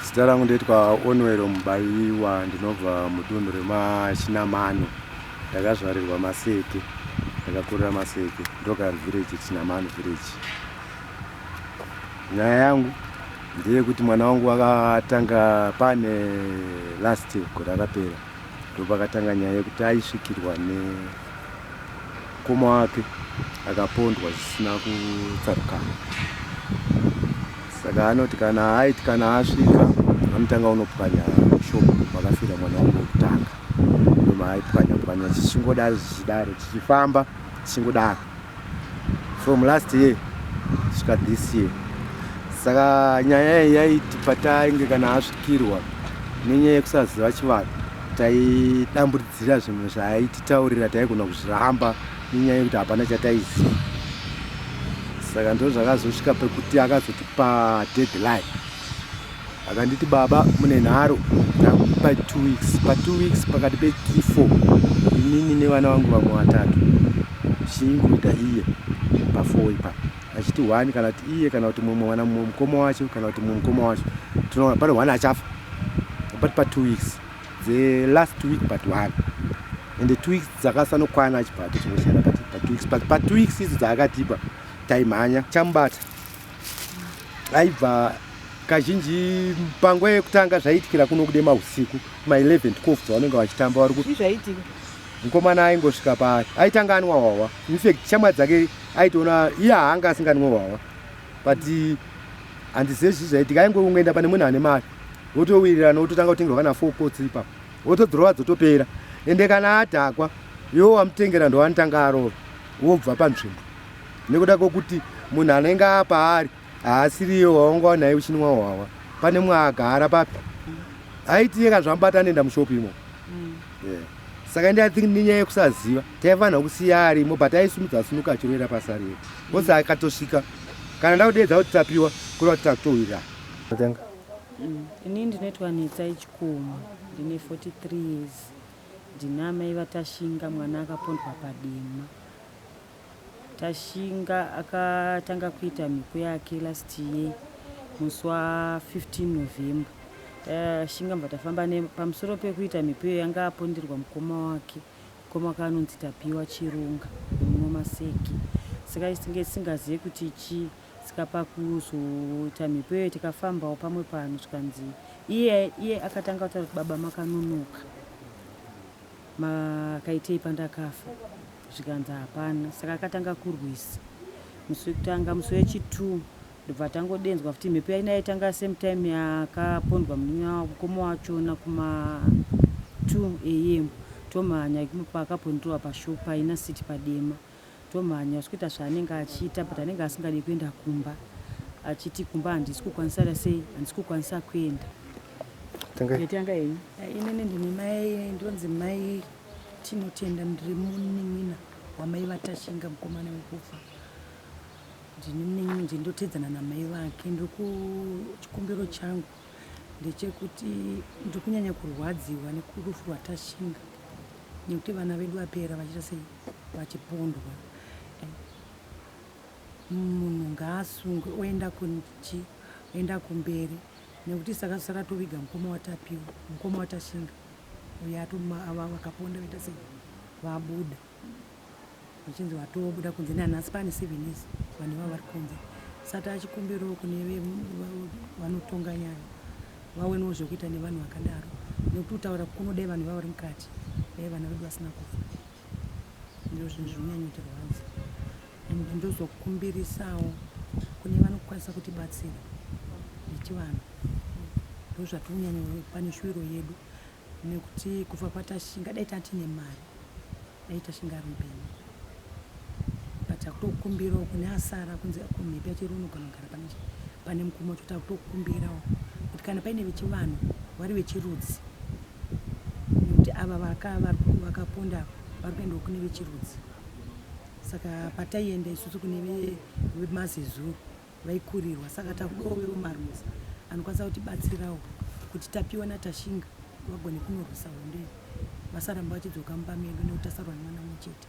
zita rangu ndoitwa onwero mubayiwa ndinobva mudunhu remachinamano ndakazvarirwa maseke ndakakurira maseke ndoka village chinamano village nyaya yangu ndeyekuti mwana wangu akatanga pane last gore rakapera ndopakatanga nyaya yekuti aisvikirwa ne mukoma wake akapondwa zvisina kutsarukana saka anoti kana aiti kana asvika anotanga unopwanya shop vakafira mwana wangu wekutanga ndomaaipwanya pwanya chichingodaro zvichidaro chichifamba chichingodaro from last year svika this year saka nyaya iyi yaiti patainge kana asvikirwa nenyaya yekusaziva chivanhu taidamburidzira zvinhu zvaititaurira taigona kuzviramba nenyaya yekuti hapana chataiziva saka ndozvakazosvika pekuti akazotipa deadline akanditi baba mune nharo ndakupa two weeks pa two weeks pakati pe three four inini nevana vangu vamwe vatatu chingoita iye pafoo ipa achiti one kana kuti iye kana kuti mumwe mwana mumwe mukoma wacho kana kuti mumwe mukoma wacho tinoona pane one achafa but pa two weeks the last week but one and the two weeks dzakasanokwana achibva atochingosiyana pa two weeks but pa two weeks idzo dzaakatipa taimhanya chamubata aibva kazhinji panguva yekutanga zvaiitikira kuno kude mahusiku ma 11 12 dzavanenge vachitamba vari kuti zvaiitika mukomana aingosvika paari aitanga anwa hwahwa infact shamwa dzake aitoona iye haanga asinganwe hwahwa but handizive zvii zvaiitika aingoungoenda pane munhu ane mari votowirirana vototanga kutengerwa kana four pots ipapo votodhurova dzotopera ende kana adhakwa iwo wamutengera ndowanitanga arova wobva panzvimbo nekuda kwokuti munhu anenge apaari haasiriye waunga naye uchinwa hwawa pane mwaagara papi aiti yeka zvamubata anoenda mushopi imo mm. saka ndi athink nenyaya yekusaziva taifanira kusiya arimo but aisumudza sunuka achiroera pasi ariye kose akatosvika kana ndakudeedza kuti tapiwa kureva kuti takutohwira atanga mm. ini ndinoitwa netsa yechikomo ndine 43 years ndina mai vatashinga mwana akapondwa padema Tashinga akatanga kuita mhiko yake last year musi wa 15 November. Tashinga mva tafamba ne pamusoro pekuita mhiko iyo yanga aponderwa mukoma wake. Mukoma wake anonzi Tapiwa Chirunga muno Maseki. Saka isinge singaziye kuti chi saka pakuzoita mhiko iyo tikafambawo pamwe pano zvikanzi iye iye akatanga kutaura kuti baba makanonoka makaitei pandakafa zvikanzi hapana saka akatanga kurwisa musi wekutanga musi wechitwo ndobva tangodenzwa futi mhepo yaina yaitanga same time yakapondwa munin'a mukoma wachona kuma two am tomhanya paakapondirwa pashop paina city padema tomhanya usikuita zvaanenge achiita but anenge asingadi kuenda kumba achiti kumba handisi kukwanisa ra sei handisi kukwanisa kuenda tanga ini ndini mai ndonzi mai Tinotenda ndiri munin'ina wamai vaTashinga mukomana wekufa ndini munin'ina nje ndotedzana namai vake ndiri kuchikumbiro changu ndechekuti ndiri kunyanya kurwadziwa nekurufu rwaTashinga nekuti vana vedu vapera vachiita sei vachipondwa munhu ngaasungwe oenda kunchi oenda kumberi nekuti saka saka toviga mukoma watapiwa mukoma watashinga Uye atumwa avo vakaponda vaita sei vabuda vachinzi vatobuda kunze nani asi pane seven years vanhu ivavo vari kunze sati achikumbirawo kune vanotonga nyaya vaonewo zvekuita nevanhu vakadaro nekuti kutaura kunodai vanhu ivavo vari mukati dai vana vedu vasina kufa ndizvo zvinhu zvinonyanyotirwadza and ndozokumbirisawo kune vanokwanisa kutibatsira nechivanhu ndozvatonyanya pane shuviro yedu nekuti kubva patashinga dai tati nemari dai tashinga ari mpenyu but akutokumbirawo kune asara kunzi kumhepi achiri unogona kugara pane pane mukuma wacho kuti akutokumbirawo kuti kana paine vechivanhu vari vechirudzi nekuti ava vakaponda vari kuendawo kune vechirudzi saka pataienda isusu kune vemazezuru vaikurirwa saka takudawo veumarusa anokwanisa kutibatsirawo kuti tapiwa natashinga vagone kunorwisa hondo vasaramba vachidzoka mumba medu nekuti tasarwa nemwana mumwe chete